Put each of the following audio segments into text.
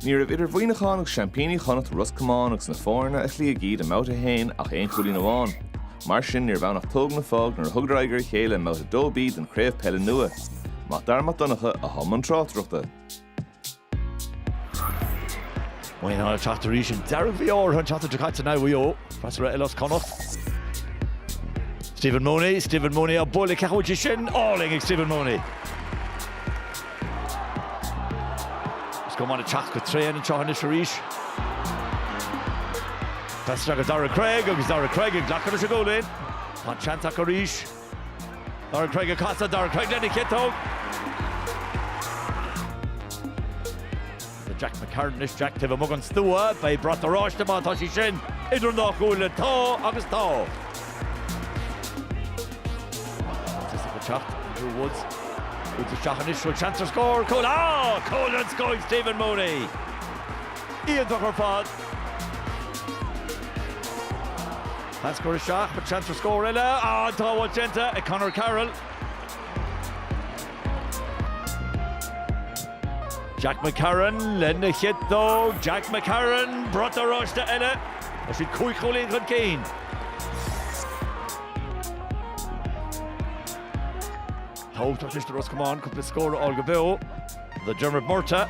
Ní raibh idir Mhuineachán agus seaimpíní Chonnacht, Ros Comáin, agus na foirne a chloígh iad i mBabhta 1 ach aon chúilín amháin. Mar sin, níorbh ann ach tóg nó fág nuair a thugadar aghaidh ar a chéile i mBabhta 2B den chraobh peile nua. Máirt Darragh Mac Donncha i mbun na tráchtaireachta. Muineachán ag teacht arís ag deireadh mhí Fheabhra, an tseachtain seo caite in aghaidh Mhaigh Eo, freasúra eile as Connacht. Stephen Mooney, Stephen Mooney ag bualadh an chic sin, álainn ag Stephen Mooney. Ros Comáin ag teacht go tréan anseo anois arís. Pas go Daire Cregg agus Daire Cregg ag glacadh leis an gcúilín. Tá an seans acu arís. Daire Cregg ag casadh, Daire Cregg lena chiotóg. Jack McCarron anois Jack taobh amuigh den stua. Beidh brat oráiste má tá sí sin idir an dá chuaille. Tá agus tá. Is ag an teacht Andrew Woods Woods isteach anois. Bhfuil seans ar scór? Cúl! Cúl ann, scór ag Stephen Mooney. Iontach ar fad. Pas curtha isteach, seans ar scór eile. An tsábháil déanta ag Conor Carroll. Jack McCarron lena chiotóg. Jack McCarron, brat oráiste eile. Tá siad cúig chúilín chun cinn. Tá sé tábhachtach do Ros Comáin cúpla scór a fháil go beo. Do Diarmuid Murtagh.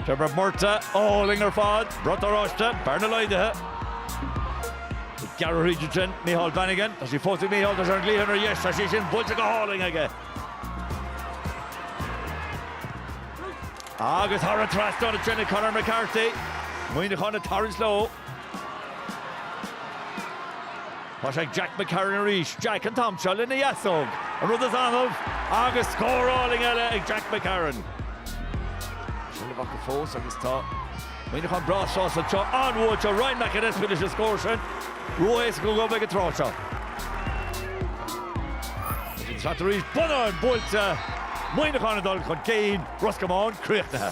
Diarmuid Murtagh, álainn ar fad. Brat oráiste, bearna laghdaithe. Ag gearradh thríd ansin, Micheál Bannigan. Tá sí fós ag Micheál, tá sé ar an gcliathán ar dheis, tá sí sin buailte go hálainn aige. Agus thar an trasnán a thiomáin Conor McCarthy, Muineachán ag tarraingt leo. Tá sé ag Jack McCarron arís, Jack an t-am seo lena dheasóg, an rud is annamh, agus scór álainn eile ag Jack McCarron. Seilbh acu fós agus tá. Muineacháin breá sásta anseo buailte ag Ryan McAnespie leis an scór sin. Ró-éasca dóibh ag an tráth seo. Isteach arís, bonnán buailte, Muineachán ag dul chun cinn, Ros Comáin críochnaithe.